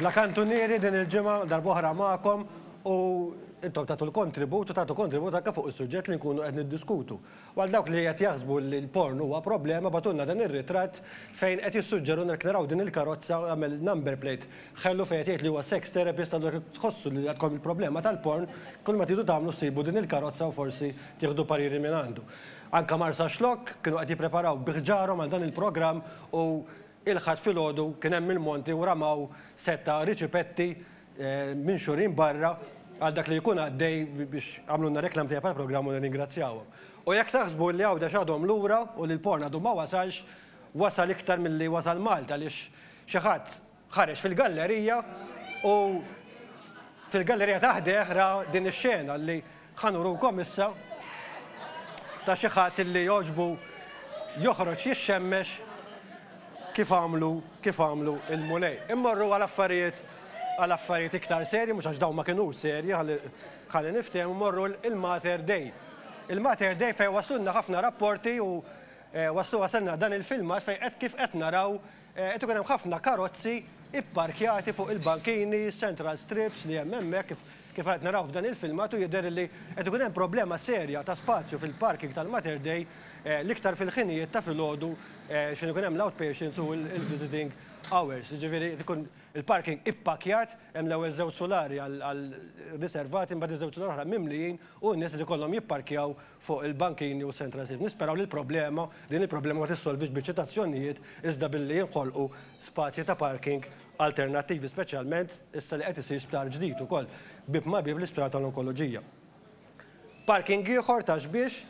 La kantunieri din il-ġimgħa darbohra magħkom u intom tagħtu l-kontribut u tagħtu kontribut anke fuq is-suġġett li nkunu qed niddiskutu. Għal dawk li qed jaħsbu li l-porn huwa problema batulna dan ir-ritratt fejn qed jissuġġeru nek naraw din il-karozza għamel number plate ħellu fejn qed jgħid li huwa sex therapist għandu jekk tħossu li għadkom il-problema tal-porn kull ma tidu tagħmlu ssibu din il-karozza u forsi tieħdu pariri minn għandu. Anke Marsaxlokk kienu qed jippreparaw bi ħġarhom għal dan il-programm u il-Ħadd filgħodu kien hemm il-monti u ramaw sett ta' riċipetti minxurin barra għal dak li jkun għaddej biex għamlulna reklam tajjeb għall-programm u nirringrazzjawhom. U jekk taħsbu li Għawdex għadhom lura u li l-porn għadu ma wasalx, wasal iktar milli wasal Malta għaliex xi ħadd Ħareġ fil-gallerija u fil-gallerija ta' ħdejh ra din ix-xena li ħa nurukom issa ta' xi ħadd li jogħġbu joħroġ jixxemmex kif għamlu kif għamlu l-Mulej. Immorru għal affarijiet għal affarijiet iktar serji, mhux għax dawn ma kinux serji ħalli ħalli niftehmu, immorru l-Mater Dei. Il-Mater Dei fejn waslulna ħafna rapporti u waslu wasalna dan il-filmat fejn qed kif qed naraw Qed ikun hemm ħafna karozzi pparkjati fuq il-bankini, central strips li hemm hemmhekk, kif qed naraw f'dan il-filmat u jidher li qed ikun hemm problema serja ta' spazju fil-parking tal-Mater Dei, l-iktar fil-ħinijiet ta' filgħodu x'ħin ikun hemm l-outpatients u l-visiting hours. Jiġifieri qed ikun il-parking ippakkjat, hemm l-ewwel żewġ sulari għal riservati, imbagħad iż-żewġ sulari l-oħra mimlijin u n-nies qed ikollhom jipparkjaw fuq il-bankini u s-central savings. Nisperaw li l-problema, din il-problema ma tissolvix bil-ċitazzjonijiet iżda billi jinħolqu spazji ta' parking alternattivi, speċjalment issa li qed isir sptar ġdid ukoll bieb ma' bieb l-Isptar tal-Onkoloġija. Parking ieħor ta' Xbiex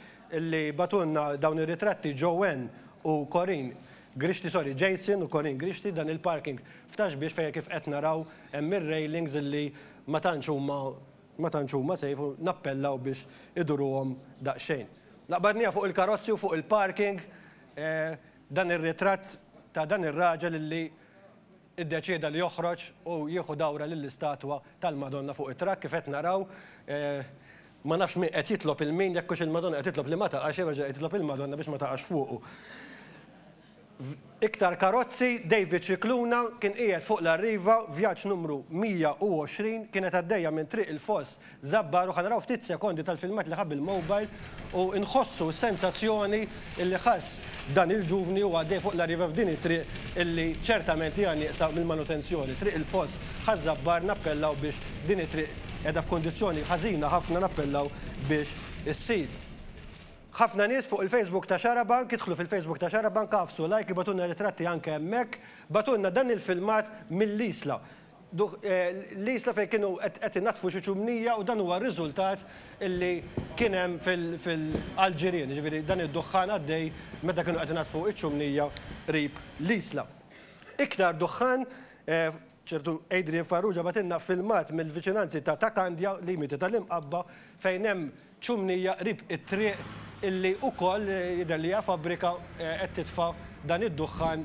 li bagħtulna dawn ir-ritratti Joanne u Corinne Grixti, sorry, Jason u Corinne Grixti, dan il-parking f'Ta' Xbiex fejn kif qed naraw hemm ir-railings li ma tantx huma Ma tantx huma safe u nappellaw biex iduruhom daqsxejn. Naqbadniha fuq il-karozzi u fuq il-parking dan ir-ritratt ta' dan ir-raġel illi iddeċieda li joħroġ u jieħu dawra lill-istatwa tal-Madonna fuq it-trakk kif qed naraw. Ma nafx min qed jitlob 'il min, jekk hux il-Madonna qed titlob li ma taqax jew jerġa' jitlob il-Madonna biex ma taqax fuqu. F'iktar karozzi, David Scicluna kien qiegħed fuq l-Arriva, vjaġġ numru 120, kienet għaddejja minn Triq il-Foss Żabbar u ħa naraw ftit sekondi tal-filmat li ħa bil-mobile u nħossu s-sensazzjoni li ħass dan il-ġuvni huwa għaddej fuq l-Arriva f'din it-triq li ċertament hija nieqsa mill-manutenzjoni. Triq il-Foss Ħaż-Żabbar nappellaw biex din it-triq qiegħda f'kundizzjoni ħażina ħafna nappellaw biex issir. Ħafna nies fuq il-Facebook ta' Xarabank, idħlu fil-Facebook ta' Xarabank, agħfsu like, ibgħatulna ritratti anke hemmhekk, bagħtulna dan il-filmat mill-Isla. L-Isla fejn kienu qed inaddfu xi ċumnija u dan huwa r-riżultat li kien hemm għall-ġirien, jiġifieri dan id-duħħan għaddej meta kienu qed inaddfu ċ-ċumnija qrib l-Isla. Iktar duħħan. Ċertu Adrian Farrugia bagħtilna filmat mill-viċinanzi ta' Ta' Kandja, limiti tal-Imqabba, fejn hemm ċumnija qrib it-triq illi ukoll jidher li hija fabbrika qed titfa' dan id-duħħan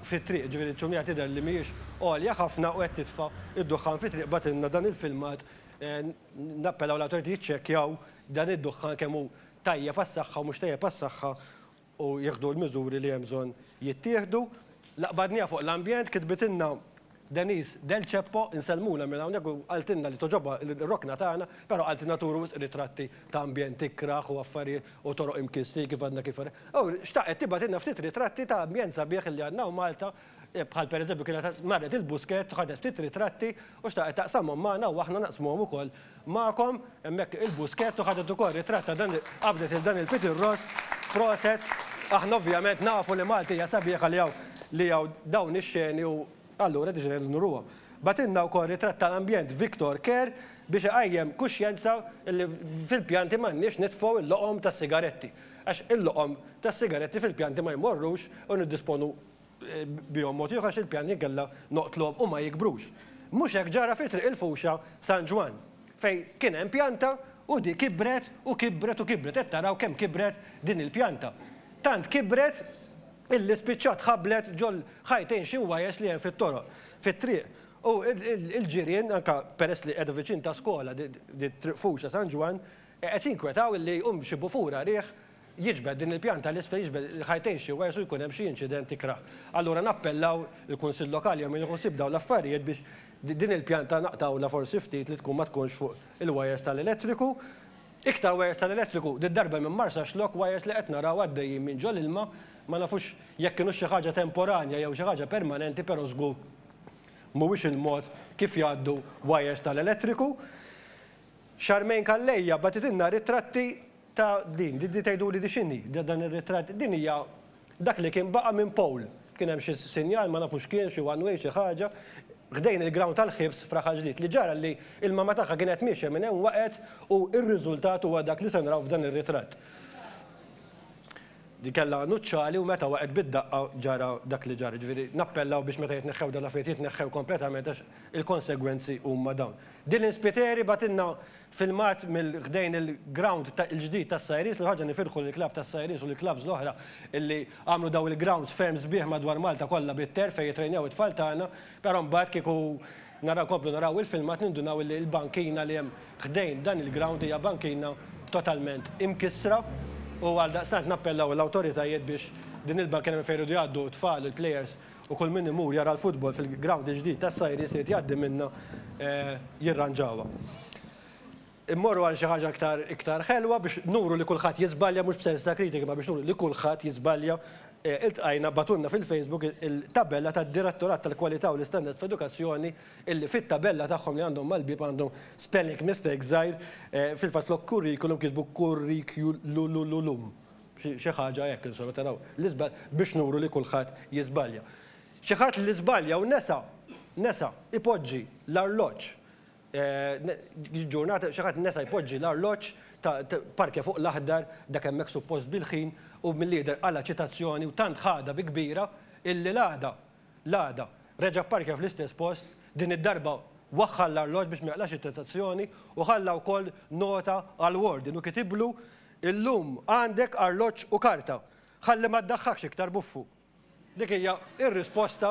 fit-triq. Ġifieri ċumnija tidher li mhijiex għolja ħafna u qed titfa' d-duħħan fit-triq. Bagħtilna dan il-filmat. Nappellaw l-awtoritajiet jiċċekkjaw dan id-duħħan kemm hu tajjeb għas-saħħa u mhux tajjeb għas-saħħa u jieħdu l-miżuri li hemm bżonn jittieħdu. L-Qbadnija fuq l-Ambjent kitbitilna Denise Del Ceppo, insellmulha minn hawnhekk u qaltilna li togħġobha r-rokna tagħna, però qaltilna turu wisq ritratti ta' ambjent ikrah u affarijiet u toroq imkissrin kif għadna kif. U xtaqet tibgħatilna ftit ritratti ta' ambjent sabiħ li għandna hawn Malta Bħal pereżempju kienet marret il-Buskett, ħadet ftit ritratti u xtaqet taqsamhom magħna u aħna naqsmuhom ukoll magħkom. Hemmhekk il-Buskett u ħadet ukoll ritratt ta' dan qabdet lil dan il-Peter Ross. Proset. Aħna ovvjament nafu li Malta hija sabiħa li hawn li hawn dawn ix-xeni u allura deċidejna li nuruhom. Bagħtilna wkoll ritratt tal-ambjent Victor Kerr biex iqajjem kuxjenza li fil-pjanti m'għandniex nitfgħu l-loqom tas-sigaretti għax il-loqom tas-sigaretti fil-pjanti ma jmorrux u niddisponu bihom mod ieħor għax il-pjan li kellha noqtluhom u ma jikbrux. Mhux hekk ġara fi Triq il-Fuxha San Ġwann, fejn kien hemm pjanta u di kibret u kibret u kibret, qed taraw kemm kibret din il-pjanta. Tant kibret illi spiċċat ħabblet ġol-ħajtejn xi ngħwajjeż li hemm fit-toroq, fit-triq u l-ġirien, anke peress li qiegħda viċin ta' skola di Triq Fuxha San Ġwann, qed jinkwetaw illi jqum xi bufura riħ jiġbed din il-pjanta l-isfel jiġbed ħajtejn xi wires u jkun hemm xi inċident ikrah. Allura nappellaw il-Kunsill Lokali jew min iħu ħsieb dawn l-affarijiet biex din il-pjanta naqtgħulha forsi ftit li tkun ma tkunx fuq il-wires tal-elettriku. Iktar wires tal-elettriku, did-darba minn Marsaxlokk, wires li qed naraw għaddejjin minn ġo l-ilma, ma nafux jekk kinux xi ħaġa temporanja jew xi ħaġa permanenti però żgur mhuwiex il-mod kif jgħaddu wires tal-elettriku. Charmaine Calleja bagħtitilna ritratti Ta' din, di tgħiduli di x'inhi, dan ir-ritratt, din hija dak li kien baqa' minn poll. Kien hemm xi sinjal, ma nafu x'kien, xi one way, xi ħaġa, ħdejn il-ground tal-ħibs f'Raħal Ġdid. Li ġara li l-mamma tagħha kienet miexja minn hemm waqgħet u r-riżultat huwa dak li se naraw f'dan ir-ritratt. Di kellha għanuċċali u meta waqgħet bid-daqqa ġara dak li ġara. Ġifieri nappellaw biex meta jitneħħew dawn l-affarijiet jitneħħew kompletament għax il-konsegwenzi huma dawn. Dylan Spiteri bagħtilna filmat mil ħdejn il ground ta il ġdid tas Sajris li ħaġa nifirħu lil club tas Sajris u lil clubs l oħra illi għamlu dawn il grounds ferm sbieħ madwar Malta kollha bit terf fejn jitrejnew it tfal tagħna però mbagħad kieku naraw nkomplu naraw il filmat nindunaw illi il bankina li hemm ħdejn dan il ground hija bankina totalment imkissra u għaldaqstant nappellaw l awtoritajiet biex din il bankina minn fejn iridu jgħaddu t tfal u l players u kull min imur jara l-futbol fil-grawnd il-ġdid tas-Sajri se jrid jgħaddi minnha jirranġawha. Immorru għal xi ħaġa iktar iktar ħelwa biex nuru li kulħadd jiżbalja mhux b'sens ta' kritika imma biex nuru li kulħadd jiżbalja iltqajna bagħtulna fil-Facebook il-tabella tad-Direttorat tal-Kwalità u l-Istandards fl-Edukazzjoni illi fit-tabella tagħhom li għandhom mal-bieb għandhom spelling mistake żgħir, fil-fatt flok curriculum kitbu kurrikululululum. Xi ħaġa hekk, insomma, taraw, l-iżball, biex nuru li kulħadd jiżbalja. Xi ħadd li żbalja u nesa, nesa, ipoġġi l-arloġġ, ġurnata, xi ħadd nesa jpoġġi l-arloġġ ta', parkja fuq l-aħdar, dak hemmhekk suppost bil-ħin, u milli jidher qala' ċitazzjoni u tant ħadha bi kbira illi l-għada, l-għada, reġa' pparkja fl-istess post, din id-darba waħħal l-arloġġ biex ma jaqlax iċitazzjoni u ħalla wkoll nota għall-warden u kitiblu Illum għandek arloġġ u karta. Ħalli ma ddaħħakx iktar buffu. Dik hija r-risposta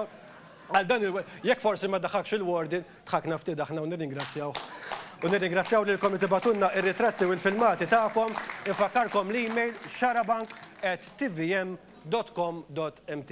għal dan il Jekk forsi ma ddaħħakx il-warden, dħakna ftit aħna u nirringrazzjawh. U nirringrazzjaw lilkom li tibatulna ir-ritratti u l-filmati tagħkom. Infakkarkom l-email xarabank@tvm.com.mt.